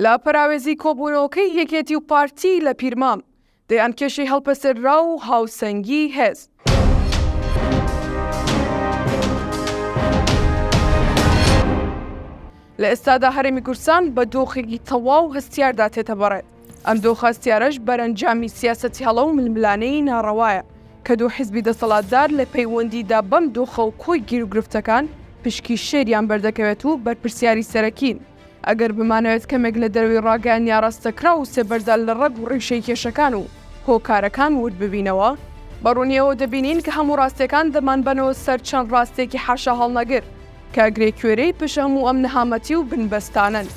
لە پەراوێزی کۆبوونەوەکەی یەکێتی و پارتی لە پیرمام، دەیان کێشەی هەڵپەسێرراو و هاوسەنگی هێز، لە ئێستادا هەرێمی کوردستان بە دۆخێکی تەواو هەستیاردا تێتەبەڕێت، ئەم دۆخە هەستیارەش بەرەنجامی سیاسەتی هەڵە و ململانێی ناڕەوایە کە دوو حزبی دەسەڵاتدار لە پەیوەندیدا بەم دۆخە و کۆی گیروگرفتەکان پشکی شێریان بەردەکەوێت و بەرپرسیاری سەرەکین. ئەگەر بمانەوێت کەمێک لە دەروی ڕاگەیاندنی ئاراستەکراو و سێبەردا لە ڕەگ و ڕیشەی کێشەکان و هۆکارەکان وورد ببینەوە، بە ڕوونی ئەوە دەبینین کە هەموو ڕاستییەکان دەمانبەنەوە سەر چەند ڕاستییەکی حاشاهەڵنەگر کە گرێکوێرەی پشت هەموو ئەم نەهامەتی و بنبەستانەن.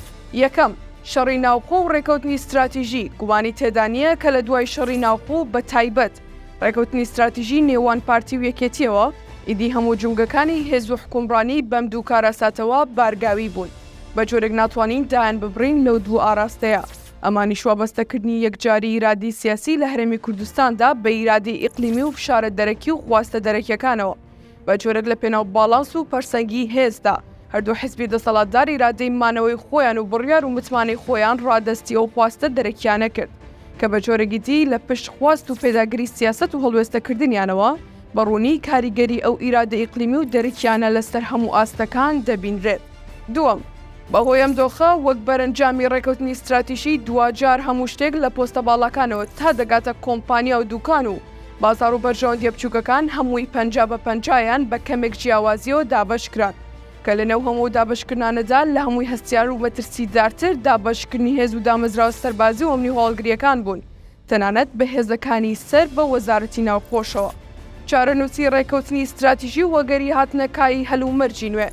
یەکەم، شەڕی ناوخۆ و ڕێکەوتنی ستراتیژی، گومانی تێدا نییە کە لە دوای شەڕی ناوخۆ و بەتایبەت، ڕێکەوتنی ستراتیژی نێوان پارتی و یەکێتیەوە، ئیدی هەموو جومگەکانی هێز و حکومڕانی بەم دوو کارەساتەوە بارگاوی بوون، بە جۆرێک ناتوانین دایان ببڕین لەو دوو ئاراستەیە، ئەمانیش وابەستەکردنی یەکجاری ئیرادەی سیاسی لە هەرێمی کوردستاندا بە ئیرادەی ئیقلیمی و فشارە دەرەکی و خواستە دەرەکیەکانەوە. بە جۆرێک لە پێناو باڵانس و پەرسەنگیی هێزدا، هەردوو حزبی دەسەڵاتدار ئیرادەی مانەوەی خۆیان و بڕیار و متمانەی خۆیان ڕادەستی ئەو خواستە دەرەکییانە کرد، کە بە جۆرێکی دی لە پشت خواست و پێداگری سیاسەت و هەڵوێستەکردنیانەوە، بە ڕوونی کاریگەری ئەو ئیرادە ئیقلیمی و دەرەکییانە لە سەر هەموو ئاستەکان دەبینرێت. دووەم، بەهۆی ئەم دۆخە، وەک بەرەنجامی ڕێکەوتنی ستراتیژی، دواجار هەموو شتێک لە پۆستە باڵاکانەوە تا دەگاتە کۆمپانیا و دووکان و بازاڕ و بەرژەوەندییە بچووکەکان هەمووی پەنجا بە پەنجا یان بە کەمێک جیاوازییەوە دابەشکران کە لەنێو هەموو ئەو دابەشکردنانەدا لە هەمووی هەستیار و مەترسیدارتر دابەشکردنی هێز و دامەزراوە سەربازی و ئەمنی و هەواڵگرییەکان بوون تەنانەت بە هێزەکانی سەر بە وەزارەتی ناوخۆشەوە. چارەنووسی ڕێککەوتنی ستراتیژی و وەگەری هاتنە کایەی هەلومەرجی نوێ.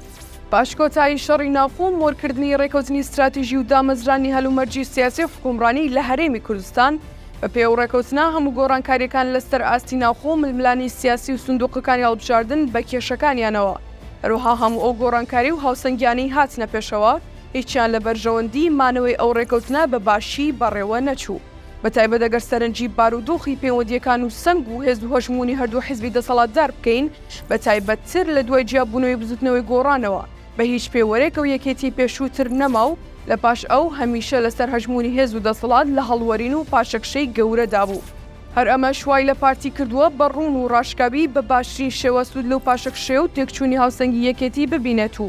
پاش کۆتایی شەڕی ناوخۆ و مۆرکردنی ڕێککەوتنی ستراتیژی و دامەزرانی هەلومەرجی سیاسی و حکوومڕانی لە هەرێمی کوردستان، بە پێ ئەو ڕێککەوتنە هەموو گۆڕانکارییەکان لە سەر ئاستی ناوخۆ و ململانێی سیاسی و سندووقەکانی هەڵبژاردن بە کێشەکانیانەوە، هەروەها هەموو ئەو گۆڕانکاری و هاوسەنگییانەی هاتنە پێشەوە، هیچیان لە بەرژەوەندیی مانەوەی ئەو ڕێکەوتنە بە باشی بەڕێوە نەچوو، بەتایبەت ئەگەر سەرنجی بارودۆخی پەیوەندییەکان و سەنگ و هێز و هەژموونی هەردوو حیزبی دەسەڵاتدار بکەین، بەتایبەتتر لە دوای جیابوونەوەی بزووتنەوەی گۆڕانەوە، بە هیچ پێوەرێک ئەو یەکێتیی پێشووتر نەما و لە پاش ئەو، هەمیشە لەسەر هەژموونی هێز و دەسەڵات لە هەڵوەرین و پاشەکشەی گەورەدا بوو. هەر ئەمەش وای لە پارتی کردووە بە ڕوون و ڕاشکاوی بە باشترین شێوە سوود لەو پاشەکشەی و تێکچوونی هاوسەنگی یەکێتی ببینێت و،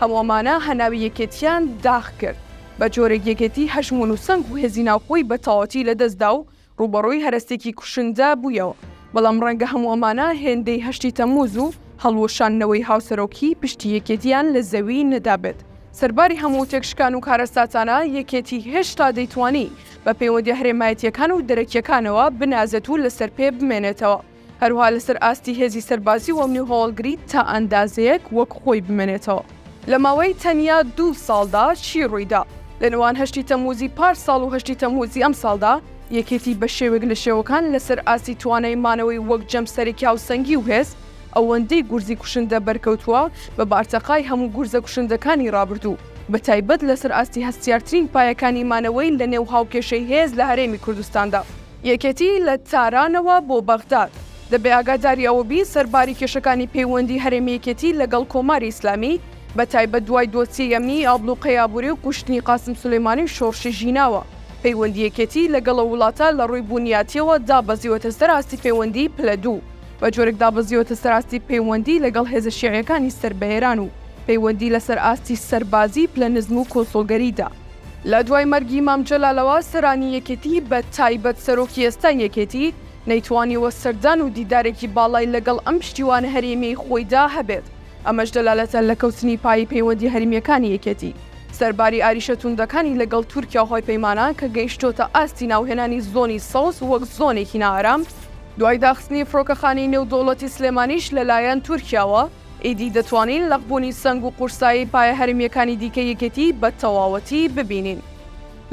هەموو ئەمانە هەناوی یەکێتییان داخ کرد، بە جۆرێک یەکێتی هەژموون و سەنگ و هێزی ناوخۆی بە تەواوەتی لە دەست دا و ڕووبەڕووی هەرەسێکی کوشندە بوویەوە. بەڵام ڕەنگە هەموو ئەمانە هێندەی هەشتی تەممووز و هەڵوەشاندنەوەی هاوسەرۆکیی پشتی یەکێتییان لە زەوی نەدابێت. سەرباری هەموو تێکشکان و کارەساتانە، یەکێتی هێشتا دەیتوانی بە پەیوەندییە هەرێمایەتییەکان و دەرەکییەکانەوە بنازێت و لەسەرپێ بمێنێتەوە. هەروها لەسەر ئاستی هێزی سەربازی و ئەمنی و هەواڵگری تا ئەندازەیەک وەک خۆی بمێنێتەوە. لە ماوەی تەنیا دوو ساڵدا چی ڕوویدا؟ لە نێوان هەشتی تەمووزی پار ساڵ و هەشتی تەمووزی ئەم ساڵدا، یەکێتی بە شێوەیەک لە شێوەکان لەسەر ئاستی توانای مانەوەی وەک جەمسەرێکی هاوسەنگی و هێز، ئەوەندەی گورزی کوشندە بەرکەوتووە بە بارتەقای هەموو گورزە کوشندەکانی ڕابردوو، بە تایبەت لەسەر ئاستی هەستیارترین پایەکانی مانەوەی لە نێو هاوکێشەی هێز لە هەرێمی کوردستاندا. یەکێتی لە تارانەوە بۆ بەغداد، دەبێ ئاگاداری ئەوە بین سەرباری کێشەکانی پەیوەندی هەرێمی یەکێتی لەگەڵ کۆماری ئیسلامی، بە تایبەت دوای دۆسیەی ئەمنیی ئابڵوقەی ئابووری و کوشتنی قاسم سولەیمانی و شۆڕشی ژیناوە، پەیوەندی یەکێتی لەگەڵ ئەو وڵاتە لە ڕووی بوونیاتییەوە دابەزیوەتە سەر ئاستی پەیوەندیی پلە دوو، بە جۆرێک دابەزیوەتە سەر ئاستی پەیوەندی لەگەڵ هێزە شیعییەکانی سەر بە ئێران و پەیوەندی لەسەر ئاستی سەربازیی پلە نزم و کونسوڵگەریدا. لە دوای مەرگی مام جەلالەوە سەرانی یەکێتی بە تایبەت سەرۆکی ئێستای یەکێتی نەیتوانیوە سەردان و دیدارێکی باڵای لەگەڵ ئەم پشتیوانە هەرێمیەی خۆیدا هەبێت ئەمەش دەلالەتە لە کەوتنی پایەی پەیوەندی هەرمیەکانی یەکێتی سەرباری ئاریشە توندەکانی لەگەڵ تورکیا و هاوپەیمانان کە گەیشتۆتە ئاستی ناوهێنانی زۆنی سەوز وەک زۆنێکی نائارام دوای داخستنی فرۆکەخانەی نێودەوڵەتی سلێمانیش لەلایەن تورکیاوە. ئیدی دەتوانین لەقبوونی سەنگ و قورسایی پایە هەرێمییەکانی دیکەی یەکێتی بە تەواوەتی ببینین.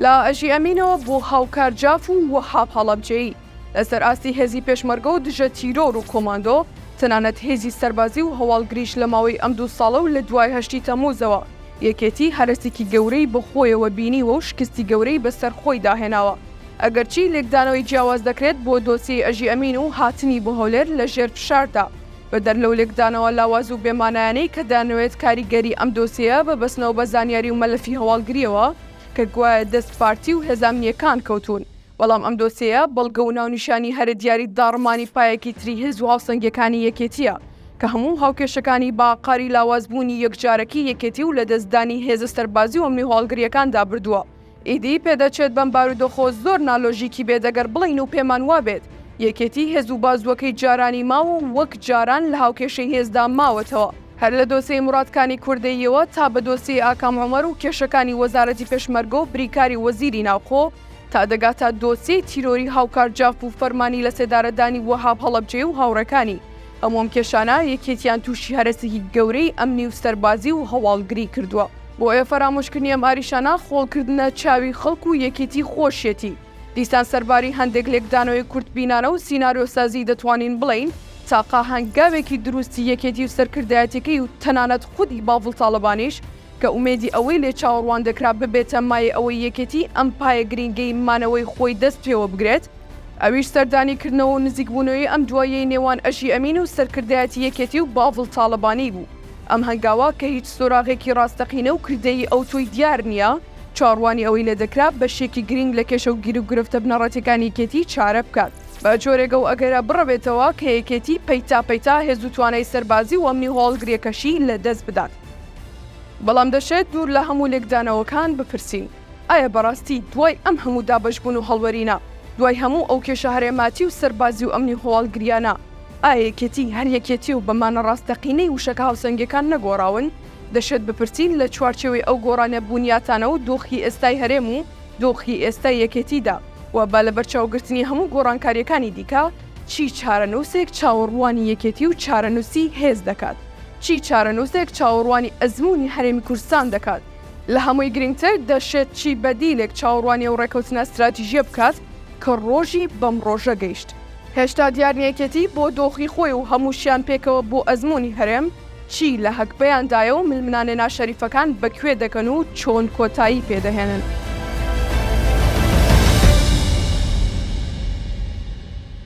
لە ئەژی ئەمینەوە بۆ هاوکار جاف و وەهاب هەڵەبجەیی، لەسەر ئاستی هێزی پێشمەرگە و دژە تیرۆر و کۆماندۆ، تەنانەت هێزی سەربازی و هەواڵگریش لە ماوەی ئەم دوو ساڵە و لە دوای هەشتی تەمووزەوە، یەکێتی هەرەسێکی گەورەی بە خۆیەوە بینیوە و شکستی گەورەی بەسەر خۆیدا هێناوە. ئەگەرچی لێکدانەوەی جیاواز دەکرێت بۆ دۆسیەی ئەژی ئەمین و هاتنی بۆ هەولێر لە ژێر فشاردا، بەدەر لەو لێکدانەوە لاواز و بێ مانایانەی کە دەیانەوێت کاریگەری ئەم دۆسیەیە ببەستنەوە بە زانیاری و مەلەفی هەواڵگرییەوە کە گوایە دەست پارتی و هێزە ئەمنییەکان کەوتوون، بەڵام ئەم دۆسیەیە بەڵگە و ناونیشانی هەرە دیاری داڕمانی پایەکی تری هێز و هاوسەنگییەکانی یەکێتییە کە هەموو هاوکێشەکانی بە ئاقاری لاوازبوونی یەکجارەکی یەکێتی و لەدەستدانی هێزە سەربازی و ئەمنی و هەواڵگرییەکاندا بردووە. ئیدی پێدەچێت بەم بارودۆخۆ زۆر نالۆژیکی بێت ئەگەر بڵێین و پێمان وابێت یەکێتی هێز و بازووەکەی جارانی ماوە و وەک جاران لە هاوکێشەی هێزدا ماوەتەوە، هەر لە دۆسێی موراد کانی کوردەییەوە تا بە دۆسیەی ئاکام عومەر و کێشەکانی وەزارەتی پێشمەرگە و بریکاری وەزیری ناوخۆ تا دەگاتە دۆسیەی تیرۆری هاوکار جاف و فەرمانی لەسێدارەدانی وەهاب هەڵەبجەیی و هاوڕێکانی. ئەو مۆمکێشانە یەکێتیان تووشی هەرەسێکی گەورەی ئەمنی و سەربازی و هەواڵگری کردووە، بۆیە فەرامۆشکردنی ئەم ئاریشانە خۆڵکردنە چاوی خەڵک و یەکێتی خۆشیەتی، دیسان سەرباری هەندێک لێکدانەوەی کورتبینانە و سیناریۆسازی دەتوانین بڵێین تاقە هەنگاوێکی دروستی یەکێتی و سەرکردایەتیەکەی و تەنانەت خودی باڤڵ تاڵەبانیش کە ئومێدی ئەوەی لێ چاوەڕوان دەکرا ببێتە مایەی ئەوەی یەکێتی ئەم پایە گرینگەی مانەوەی خۆی دەست پێوە بگرێت، ئەویش سەردانی کردنەوە و نزیکبوونەوەی ئەم دواییەی نێوان ئەژی ئەمین و سەرکردایەتی یەکێتی و باڤڵ تاڵەبانی بوو. ئەم هەنگاوە کە هیچ سۆراغێکی ڕاستەقینە و کردەیی ئەوتۆی دیار نییە، چاوەڕوانی ئەوەی لێ دەکرا بەشێکی گرینگ لە کێشە و گیروگرفتە بنەڕەتیەکانی یەکێتی چارە بکات، بە جۆرێک ئەو ئەگەرە بڕەوێتەوە کە یەکێتی پەیتا پەیتا هێز و توانای سەربازی و ئەمنی و هەواڵگریەکەشی لە دەست بدات. بەڵام دەشێت دوور لە هەموو لێکدانەوەکان بپرسین، ئایا بەڕاستی دوای ئەم هەموو دابەشبوون و هەڵوەرینە، دوای هەموو ئەو کێشە هەرێماتی و سەربازی و ئەمنی و هەواڵگرییانە، ئایا یەکێتی هەر یەکێتییە و بە مانا ڕاستەقینەی وشەکە هاوسەنگییەکان نەگۆڕاون؟ دەشێت بپرسین لە چوارچێوەی ئەو گۆڕانە بوونیاتانە و دۆخی ئێستای هەرێم و دۆخی ئێستای یەکێتیدا و با لەبەرچاوگرتنی هەموو گۆڕانکارییەکانی دیکە، چی چارەنووسێک چاوەڕوانی یەکێتی و چارەنووسی هێز دەکات؟ چی چارەنووسێک چاوەڕوانی ئەزموونی هەرێمی کوردستان دەکات؟ لە هەمووی گرنگتر دەشێت چی بەدیلێک چاوەڕوانی ئەو ڕێکەوتنە ستراتیژییە بکات کە ڕۆژی بەم ڕۆژە گەیشت؟ هێشتا دیار نییە یەکێتی بۆ دۆخی خۆی و هەمووشیان پێکەوە بۆ ئەزموونی هەرێم چی لە هەگبەیان دایە و ململانێ ناشەریفەکان بە کوێ دەکەن و چۆن کۆتایی پێ دەهێنن؟